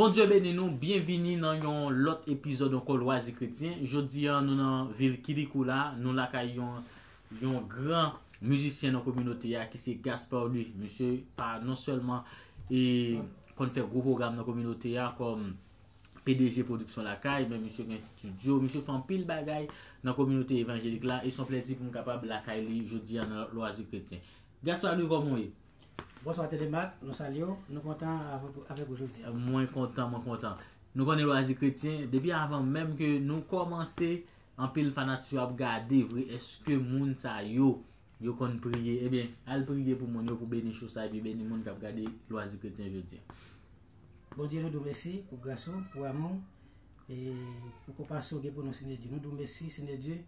Bondye beni nou, byenvini nan yon lòt epizòd ankò Lwazi Kretyen. Jodi a nou nan vil Kilikou la, nou lakay yon Yon gran mizisyen nan kominote a ki se Gaspard Louis. Misye pa non sèlman e konn fè gwo pwogram nan kominote a kòm pdg Pwodiksyon Lakay men misye gen stidyo, misye fè anpil bagay nan kominote evanjelik la e son plèzi pou m kapab lakay li jodi a nan Lwazi Kretyen. Gaspard Louis kòman ou ye? Bonswa Thélémaque, nou salye w, nou kontan avèk ou jodi a. Mwen kontan, mwen kontan. Nou konnen Lwazi Kretyen, depi avan menm ke nou kòmanse Anpil fanatik yo ap gade vre eske moun sa yo yo konn priye ebyen al priye pou moun yo pou beni show sa epi beni moun kap gade lwazi kretyen jodi an. Bondye nou di w mesi pou gras ou, pou amou w, e pou konpasyon ou gen pou nou Senyè Dye. Nou di w mesi Senyè Dye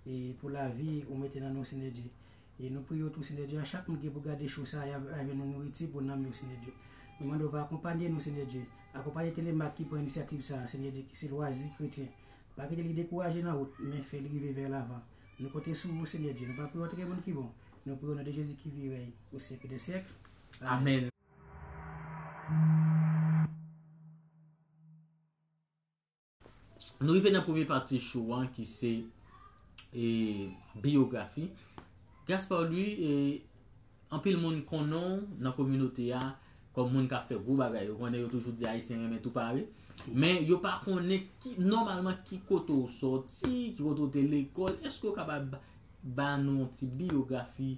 e pou lavi ou mete nan nou Senyè Dye. E nou priye w tou Senyè Dye a chak moun ki gen pou gade show sa ya va jwenn yon nouriti pou nanm yo Senyè Dye. Nou mande w va akonpanye nou Senyè Dye. Akonpanye Telemaque ki pran inisyativ sa a Senyè Dye ki se lwazi kretyen. Pa kite li dekouraje nan wout, men fè li rive vè lavan. Nou konte sou ou, Senyè Dye. Nou pa priye w trè bon ki bon. Nou priye w nan de Jezi ki vi rèy pou syèk dè syèk. Amèn. Nou rive nan premye pati show an ki se biyografi. Gaspard Louis Anpil moun konnen w nan kominote a kòm moun k ap fè gwo bagay. Yo konnen yo toujou di Ayisyen renmen tou pare. Men, yo pa konnen ki, nòmalman, ki kote w soti, ki kote w te lekòl. Èske w kapab ba nou yon ti biyografi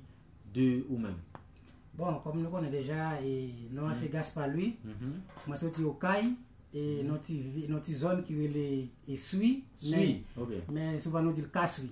de ou menm? Bon, kòm nou konnen deja, e, non an se Gaspard Louis. Mwen soti Okay, e, nan yon ti, nan yon ti zòn ki rele, e, Sui. Sui, ok. Men, souvan nou di l Kasui.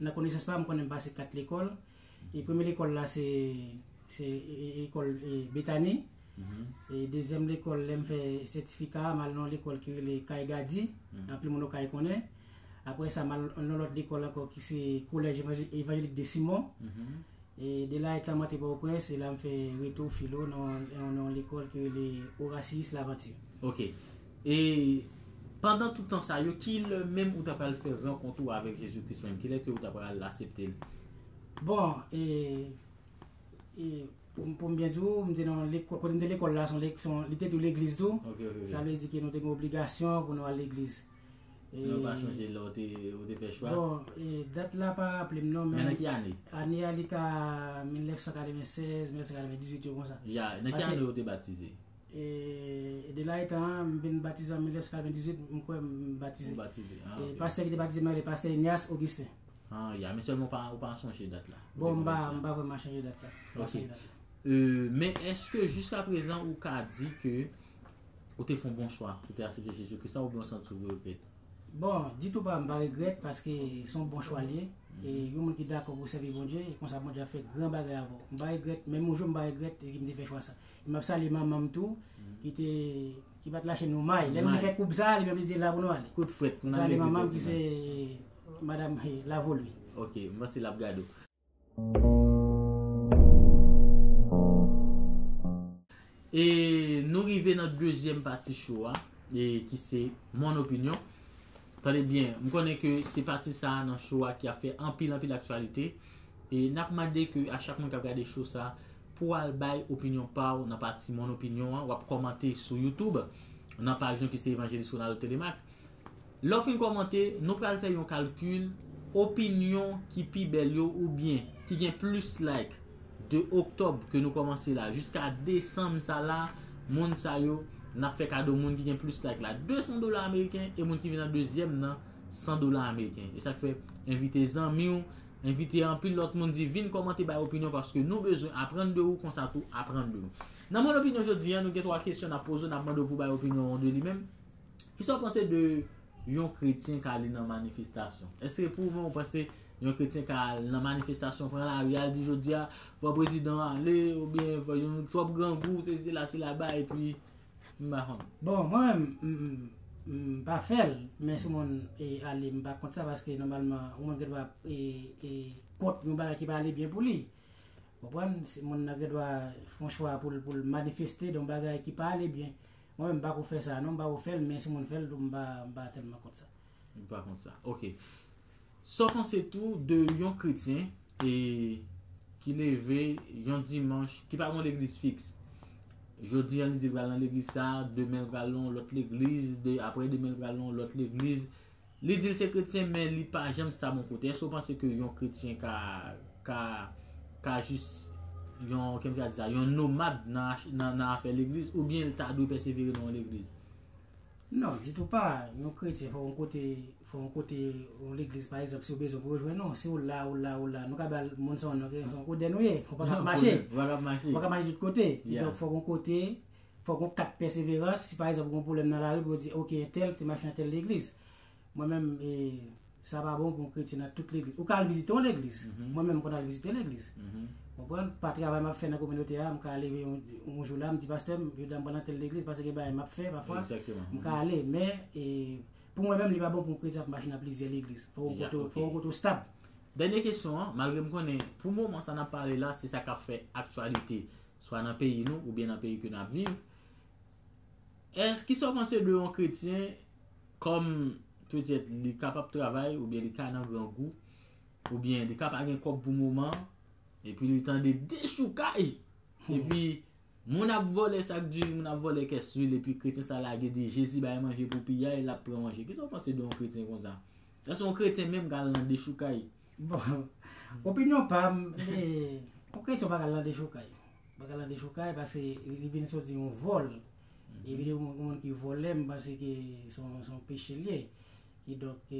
Nan konesans pa m, m konnen m pase 4 lekòl. E premye lekòl la se lekòl Betani. E dezyèm lekòl, lè m fè sètifika a, m al nan yon lekòl ki rele Kay Gadi, anpil moun Okay konnen. Apre sa, m al nan yon lòt lekòl ankò ki se Collège Evangélique de Simon. E de la etan m antre Pòtoprens, se la m fè retou filo nan yon lekòl ki rele Orasius Laventure. Ok. E pandan tout tan sa yo, ki lè menm ou ta pral fè rankont ou avèk Jezi Kris menm? Ki lè ke ou ta pral asepte l? Bon, e, e, pou m, pou m byen di ou, m te nan lekò, kote m te lekòl la se yon, li te tou legliz tou. Ok, ok, ok. Sa vle di ke nou te gen obligasyon pou nou al legliz. Mwen pa chonje lè ou te fè chwa. Bon, dat la pa raple m non. Men nan ki ane? Ane a li ka 1996, 1998 yo konsa. Ya, nan ki ane ou te batize? E de la etan an, m vin batize an 1998, m kwè m batize. Ou batize, an. E pastè ki te batize mwen, se pastè Ignace Augustin. An, ya, men sèlman ou pa chonje dat la. Bon, m pa vreman chonje dat la. Ok. Men, eske jiska prezan ou ka di ke Ou te fè yon bon chwa pou te asepte Jezi Kris la oubyen ou santi w regrèt? Bon, ditou pa, m pa regrèt paske se yon bon chwa li ye. E yon moun ki dakò pou sèvi Bondye, e konsa Bondye ap fè gran bagay avè w. M pa regrèt, menm yon jou m pa regrèt m te fè chwa sa. E m ap salye manman m tou ki te ki pa t lache nou may. Lè nou te fè koub sa, li menm li te di la pou nou ale. Kout frèt pou n ale legliz yon dimanch. M salye manman m ki se madam Lavolue. Ok, m panse l ap gade w. E nou rive nan dezyèm pati show a e ki se Mon Opinion. Tande byen, m konnen ke se pati sa a nan show a ki ap fè anpil anpil aktyalite. E n ap mande ke a chak moun k ap gade show sa a, pou al bay opinyon pa w nan pati Mon Opinion an. W ap kòmante sou YouTube, nan paj nou ki se Evanjelis Ronaldo Thélémaque. Lè w fin kòmante, nou pral fè yon kalkil opinyon ki pi bèl yo oubyen ki gen plis like de oktòb ke nou kòmanse la jiska desanm sa la moun sa yo n ap fè kado moun ki gen plis like la 200 dola ameriken e moun ki vin an dezyèm nan 100 dola ameriken e sa k fè envite zanmi w envite anpil lòt moun di vin kòmante bay opinyon paske nou bezwen aprann de ou konsa tou aprann de nou nan mòn opinyon jodi an nou gen 3 kesyon n ap poze w n ap mande w pou w bay opinyon w de li menm. Kisa w panse de yon kretyen ka li nan manifestasyon? Eske se pwouve ou panse yon kretyen ka al nan manifestasyon pran lari al di jodia fò prezidan an ale oubyen fò yon twòp grangou se sila se laba epi m pa konn. Bon mwen menm m pa fè l men si yon moun ale m pa kont sa paske nòmalman yon moun gen dwa kont yon bagay ki pa ale byen pou li ou konprann moun nan gen dwa fè yon chwa pou l manifeste de yon bagay ki pa ale byen Mwen menm m pako fè sa non m pako fèl men si moun fèl tou m pa tèlman kont sa. Ou pa kont sa ok. Sa w panse tou de yon kretyen e ki leve yon dimanch ki pa gon legliz fiks jodi an li di l pral nan legliz sa demen l pral nan yon lòt legliz apre demen l pral nan yon lòt legliz Li di l se kretyen men li pa janm sta bon kote. Èske w panse ke yon kretyen ka, ka, ka jis yon, ki m ka di sa, yon nomad nan afè legliz oubyen l ta dwe pèsevere nan yon legliz? Non, ditou pa. Yon kretyen fò yon kote, fò yon kote, yon legliz pa egzanp si w bezwen pou yo jwenn ou. Si w la, w la, w la, nou ka ba l moun sa w nan, se yon koden ou ye. Ou pa ka ap mache. Ou pa ka ap mache. Ou pa ka mache tout kote. Kidonk fò w gen yon kote, Fòk yon kat pèseverans, si pa egzanp gen yon pwoblèm nan lari pou yo di ok entèl te mache nan tèl legliz. Mwen menm e sa pa bon pou yon kretyen nan tout legliz. Ou ka al vizite yon legliz, mwen menm m konn al vizite legliz. Ou konprann? Pa travay m ap fè nan kominote a, m ka leve yon jou la m di pastè m jodi a m pral nan tèl legliz paske gen bagay m ap fè pafwa, m ka ale. Men e pou mwen menm li pa bon pou yon kretyen ap mache nan plizyè legliz. Fòk yon kote, fòk yon kote ou stab. Dènye kesyon an, malgre m konnen pou moman sa n ap pale la se sa k ap fè aktyalite, swa nan peyi nou oubyen nan peyi ke nap viv, èske kisa ou panse de yon kretyen kòm petèt li ka pap travay oubyen li ka nan grangou oubyen li ka pa gen kòb pou moman epi li tande dechoukay epi moun ap vòlè sak diri moun ap vòlè kès lwil epi kretyen sa lage di jezi bay manje pou piyay lap pran manje kisa ou panse de yon kretyen konsa èske yon kretyen menm ka al nan dechoukay. Bon, opinyon pa m, yon kretyon pa ka lan dechoukay. Pa ka lan dechoukay pase li vin soti yon vòl. E vin yon moun ki vòlè, m panse ki son peche li ye. Ki donk,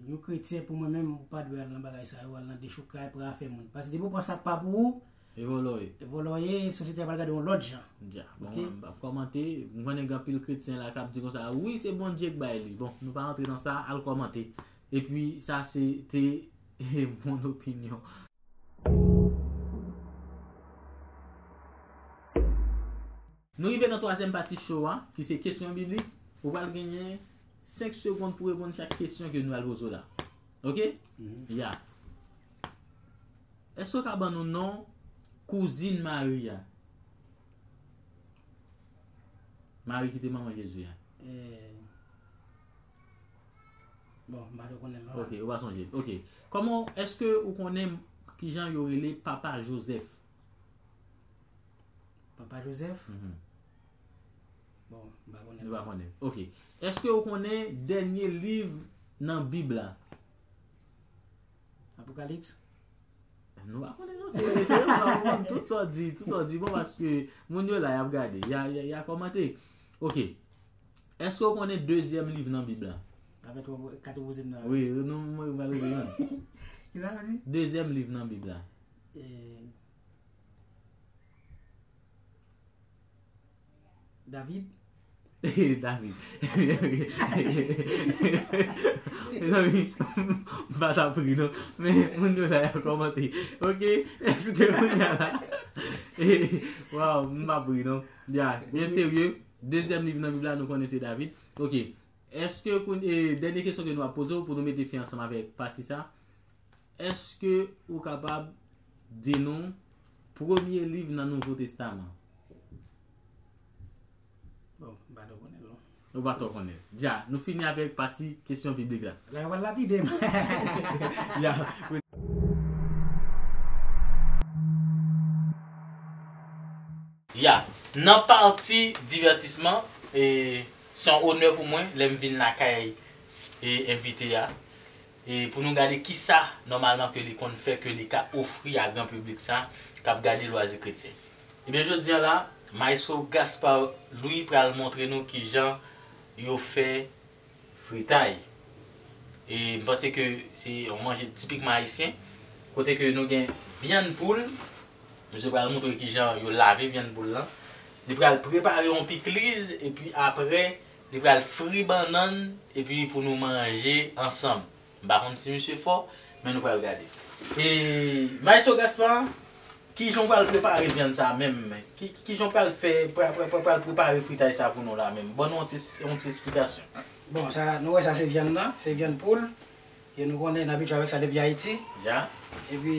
yon kretyen pou mwen menm, ou pa dwe al lan bagay sa yo, al lan dechoukay, pran afè moun. Pase depi ou pran sa k pa pou ou, e vòlò ye. E vòlò ye, sosyete a pral gade w yon lòt jan. Dja, bon, m pa p kòmante. M konnen gen anpil kretyen la k ap di konsa, wi se Bondye k bay li. Bon, nou pa rantre nan sa, al kòmante. Epi sa se te bon opinyon. Nou rive nan twazyèm pati show a ki se kesyon biblik. Ou pral genyen 5 segond pou reponn chak kesyon ke nou pral poze w la. Ok? Ya. Eske w ka ban nou non kouzin Mari a? Mari ki te manman Jezi a. Ok, ou pa sonje. Ok. Koman, eske ou konnen ki jan yo rele papa Joseph? Papa Joseph? Mhm. Bon, m pa konnen. Ou pa konnen. Ok. Eske ou konnen dènye liv nan Bib la? Apokalips? Nou pa konnen nou se. Se yo pa konnen tout sa di, tout sa di bon paske moun yo la y ap gade, y a kòmante. Ok. Eske ou konnen dezyèm liv nan Bib la? Apre twa pwofèt, kat pwofèt nan. Wi, nou mwen yo pral ouvri an. Ki sa nou di? Dezyèm liv nan Bib la. E... David? E, David. Me zanmi, m pa ta pri non. Men, moun yo la ya komante. Ok, eske moun ya la. E, waw, m pa pri non. Ya, byen serye. Dezyèm liv nan Bib la nou konnen se David. Ok. Eske koun e dènye kesyon ke nou ap poze w pou nou mete fen ansanm avèk pati sa. Eske ou kapab di nou premye liv nan Nouvo Testaman? Bon, m pa twò konnen l non. Ou pa twò konnen l. Dja, nou fini avèk pati kesyon biblik la. La yo pral lapide m. Ya. Ya, nan pati divètisman, e se yon onè pou mwen lè m vin lakay e envite a, e pou nou gade kisa nòmalman ke li konn fè ke li ka ofri a gran piblik sa kap gade Lwazi Kretyen. Ebyen jodi an la, Maestro Gaspard Louis pral montre nou kijan yo fè. fritay e m panse ke se yon manje tipikman ayisyen kote ke nou gen vyann poul misye pral moutre kijan yo lave vyann poul lan li pral prepare yon pikliz epi aprè li pral fri bannann epi pou nou manje ansanm. M pa konn si misye fò, men nou pral gade. E Maestro Gaspard, kijan w pral prepare vyann sa menm? Kijan w pral fè, pral prepare fritay sa pou nou la menm? Ban nou yon ti esplikasyon. Bon, sa, nou wè sa se vyann nan, se vyann poul, e nou konnen, nou abitye avèk sa depi Ayiti. Ya. E pi,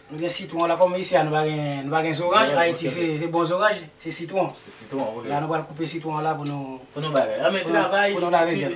nou gen sitwon la, kòm isi a nou pa gen, nou pa gen zoranj, Ayiti se, se bon zoranj, se sitwon. Se sitwon, ok. La nou pral koupe sitwon an la pou nou. Pou nou bagay. Anben travay. Pou nou lave vyann.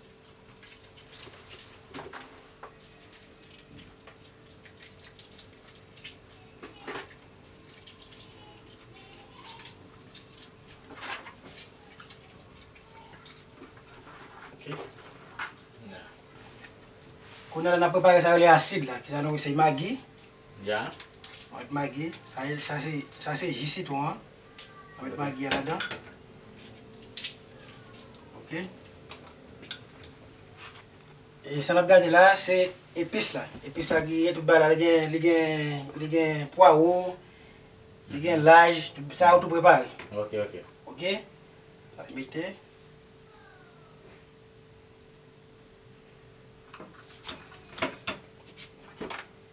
Kounye a n ap prepare sa yo rele asid la. Ki sa nou rele? Se magi. Magi. Sa se ji sitwon an. Sa met magi a ladan. Ok. E sa nap gade la se epis la. Epis la griye tout bagay la. Li gen, li gen, li gen pwawo, li gen laj, sa ou tou prepare. Ok, ok. Ok. Nap mete.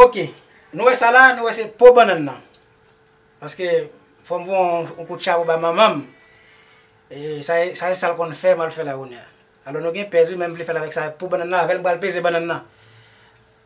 Ok, nou wè sa la, nou wè se po bannan nan. Paske, fòm bon, ou kout chabou ba manmanm. E, sa e, sa e sal kon fè, mal fè la ou nè. Alò nou gen pèzi, menm vle fè la vek sa, po bannan nan, avèl m bal peze bannan nan.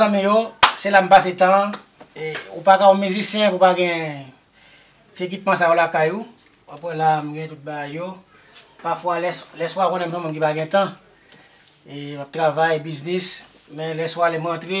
Zanmi yo, se la m pase tan an. Ou pa ka yon mizisyen pou w pa gen ti ekipman sa yo lakay ou. W ap wè la a, m gen tout bagay yo. Pafwa, lèswa konnen m se yon moun ki pa gen tan. M ap travay, biznis, men lèswa lè m rantre.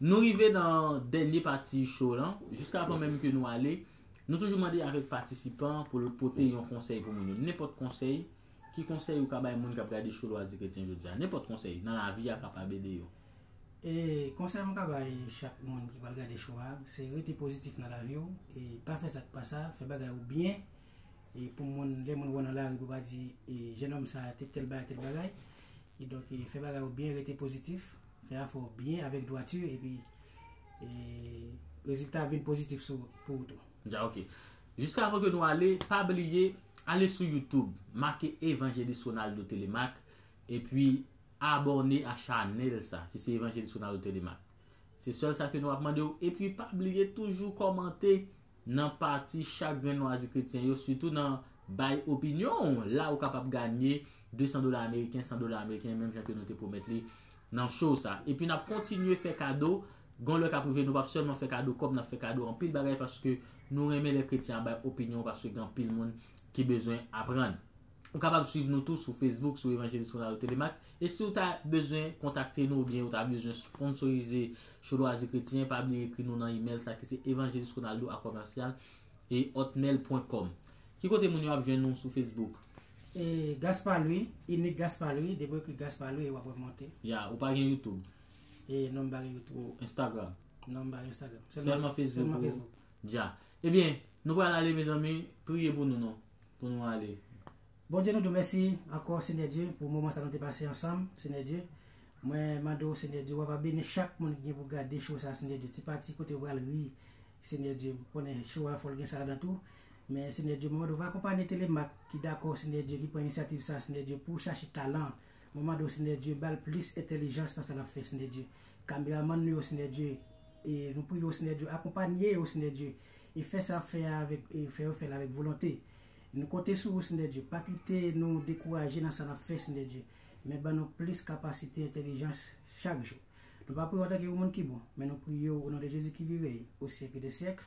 Nou rive nan dènye pati show lan, jiska avan menm ke nou ale, nou toujou mande avèk patisipan pou l pote yon konsèy pou moun yo. Nenpòt konsèy, ki konsèy ou ka bay moun k ap gade show Lwazi Kretyen jodi a? Nenpòt konsèy, nan lavi a ka pa ede yo. E konsèy mwen ka bay chak moun ki pral gade show a, se rete pozitif nan lavi w, e pa fè sa k pa sa, fè bagay ou byen. e pou moun lè moun wè w nan lari pou pa di e jenòm sa te tèl bagay tèl bagay e donk e fè bagay ou byen rete pozitif fè afè w byen avèk dwati epi e rezilta ap vin pozitif sou pou ou tou. Dja ok. Jiska avan ke nou ale, pa bliye ale sou youtube make Evangeliste Ronaldo Télémaque epi abòne a chanèl sa ki se Evangeliste Ronaldo Télémaque. Se sèl sa ke nou ap mande w epi pa bliye toujou kòmante Nan pati chak grenn lwazi kretyen yo sitou nan Bay opinyon w la ou kapab ganye 200 dola ameriken, 100 dola ameriken menm jan ke nou te pwomèt li nan show sa. Epi nap kontinye fè kado, gon lè kap rive nou pap sèlman fè kado kòb nap fè kado anpil bagay paske nou renmen lè kretyen ap bay opinyon paske gen anpil moun ki bezwen aprann. Ou kapab swiv nou tou sou Facebook sou Evanjelis Ronaldo Thélémaque e si ou ta bezwen kontakte nou oubyen ou ta bezwen sponsorize Cho Lwazi Kretyen pa bliye ekri nou nan email sa ki se evanjelisronaldo a commercial hotmail pwen kòm. Ki kote moun yo ap jwenn ou sou Facebook? E Gaspard Louis, Unique Gaspard Louis, depi w ekri Gaspard Louis wap wèm monte. Ya, ou pa gen YouTube? E non m pa gen YouTube. Ou Instagram? Non m pa gen Instagram. Sèlman Facebook ou? Sèlman Facebook. Dja. Ebyen, nou pral ale mezanmi, priye pou nou non. pou nou ale. Bondye nou diw mèsi ankò Senyè Dye pou moman sa nou te pase ansanm Senyè Dye mwen mande w Senyè Dye wava beni chak moun ki gen pou gade show sa Senyè Dye ti pati kote yo pral ri Senyè Dye m konnen show a fòl gen sa ladan tou men Senyè Dye mwen mande w va akonpanye Telemak ki dakò Senyè Dye ki pran inisyativ sa Senyè Dye pou chache talan mwen mande w Senyè Dye bal plis entèlijans nan sa lap fè Senyè Dye kameramann nou yo Senyè Dye e nou priye w Senyè Dye akonpanye yo Senyè Dye. e fè sa ap fè a avèk e fè yo fèl avèk volonte. Nou konte sou ou Sndè Dye, pa kite nou dekouraje nan sa nap fè Sndè Dye, men ban nou plis kapasite entèlijans chak jou. Nou pa priye w antanke yon moun ki bon, men nou priye w o non de Jezi ki vi rèy o syèk de syèk.